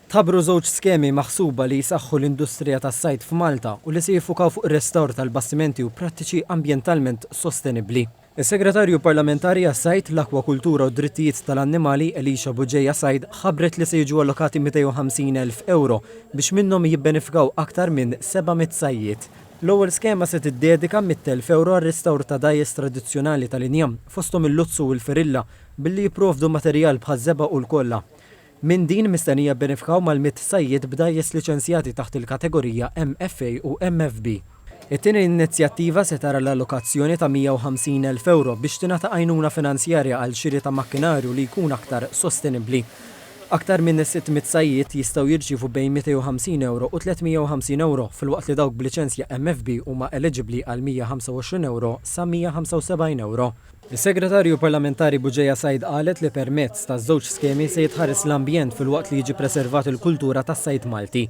Tħabbru żewġ skemi maħsuba li jsaħħu l-industrija tas-sajd f'Malta u li se jiffukaw fuq ir-restawr tal-bastimenti u prattiċi ambjentalment sostenibbli. Is-Segretarju Parlamentari għas-Sajd, l-Akwakultura u d-Drittijiet tal-Annimali, Elisha Bugeja Said, ħabbret li se jiġu allokati 250 elf ewro biex minnhom jibbenefikaw aktar minn 700 sajjied. L-ewwel skema se tiddedika mitt elf ewro għar-restawr ta' dgħajjes tradizzjonali tal-injam, fosthom il-luzzu u l-ferilla, billi jipprovdu materjal bħaż-żebgħa u l-kolla. Minn din mistennija jibbenefikaw mal-mitt sajjied b'dgħajjes liċenzjati taħt il-kategorija MFA u MFB. It-tieni inizjattiva se tara l-allokazzjoni ta' 150 elf ewro biex tingħata għajnuna finanzjarja għal xiri ta' makkinarju li jkun aktar sostenibbli. Aktar minn 600 sajjied jistgħu jirċievu bejn 250 ewro u 350 ewro filwaqt li dawk b'liċenzja MFB huma eliġibbli għal 125 ewro sa 175 ewro. Is-Segretarju Parlamentari Bugeja Said qalet li permezz taż-żewġ skemi se jitħares l-ambjent filwaqt li jiġi preservat il-kultura tas-sajd Malti.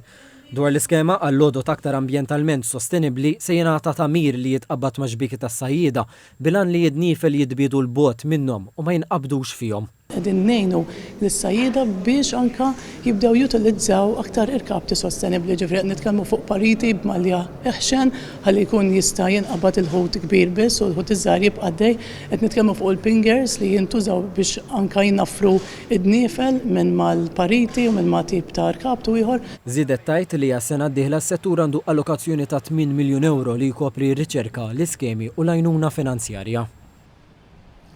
Dwar l-iskema għal għodod aktar ambjentalment sostenibbli se jingħata tagħmir li jitqabbad max-xbieki tas-sajjieda bil-għan li id-nifel jitbiedu 'l bogħod minnhom u ma jinqabdux fihom. Qegħdin ngħinu lis-sajjieda biex anke jibdew jutilizzaw aktar irkapti sostenibbli, jiġifieri qed nitkellmu fuq pariti b'malja eħxen ħalli jkun jista' jinqabad il-ħut kbir biss u l-ħut iż-żgħir jibqa' għaddej. Qed nitkellmu fuq il-pingers li jintużaw biex anke jnaffru d-dniefel minn mal-pariti u minn ma' tip ta' rkaptu ieħor. Żiedet tgħid li għas-sena d-dieħla s-settur għandu allokazzjoni ta' tmien miljun ewro li jkopri r-riċerka, l-iskemi u l-għajnuna finanzjarja.